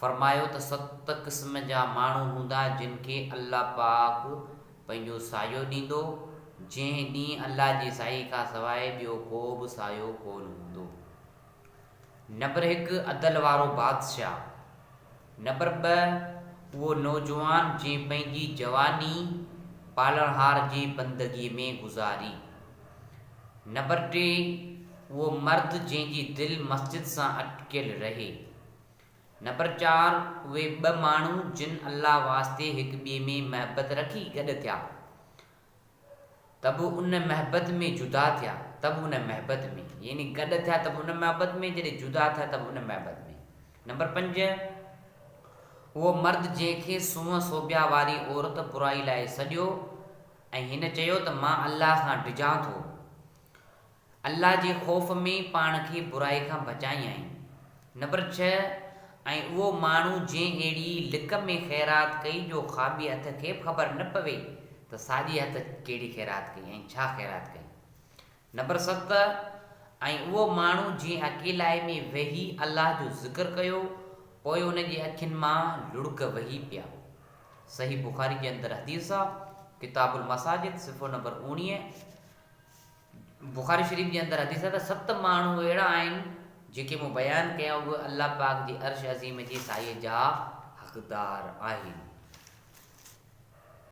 فرمايو ته ست قسم جا ماڻهو هوندا جن کي الله پاڪ پنهنجو سايو ڏيندو، جنهن ڏينهن الله جي سايي کان سواء ٻيو ڪو به سايو ڪونه هوندو. نبر هڪ عدل وارو بادشاهه. نبر ٻه اهو نوجوان جنهن پنهنجي جواني پالڻهار جي بندگي ۾ گذاري. نبر ٽي اهو مرد جنهن جي دل مسجد سان اٽڪيل رهي. نمبر چار، اهي ٻه ماڻهو جن الله واسطي هڪ ٻئي ۾ محبت رکي گڏ ٿيا ته به ان محبت ۾ جدا ٿيا ته به ان محبت ۾، يعني گڏ ٿيا ته به ان محبت ۾ جڏهن جدا ٿيا ته به ان محبت ۾. نمبر پنج، اهو مرد جنهن کي سونهن سوڀيا واري عورت برائي لاء سڏيو ۽ هن چيو ته مان الله کان ڊڄان ٿو. الله جي خوف ۾ پاڻ کي برائي کان بچايائين. نمبر ڇهه، ۽ اهو ماڻهو جنهن اهڙي لڪ ۾ خيرات ڪئي جو کاٻي هٿ کي به خبر نه پوي ته ساڄي هٿ ڪهڙي خيرات ڪئي ۽ ڇا خيرات ڪئي. نمبر ست، ۽ اهو ماڻهو جنهن اڪيلائي ۾ ويهي الله جو ذڪر ڪيو پوء ان جي اکين مان لڙڪ وهي پيا. صحيح بخاري جي اندر حديث آ، ڪتاب المساجد، صفحو نمبر اوڻيهه، بخاري شريف جي اندر حديث آهي ته ست ماڻهو اهڙا آهن جيڪي مون بيان ڪيا اهي الله پاڪ جي عرش عظيم جي سايي جا حقدار آهن.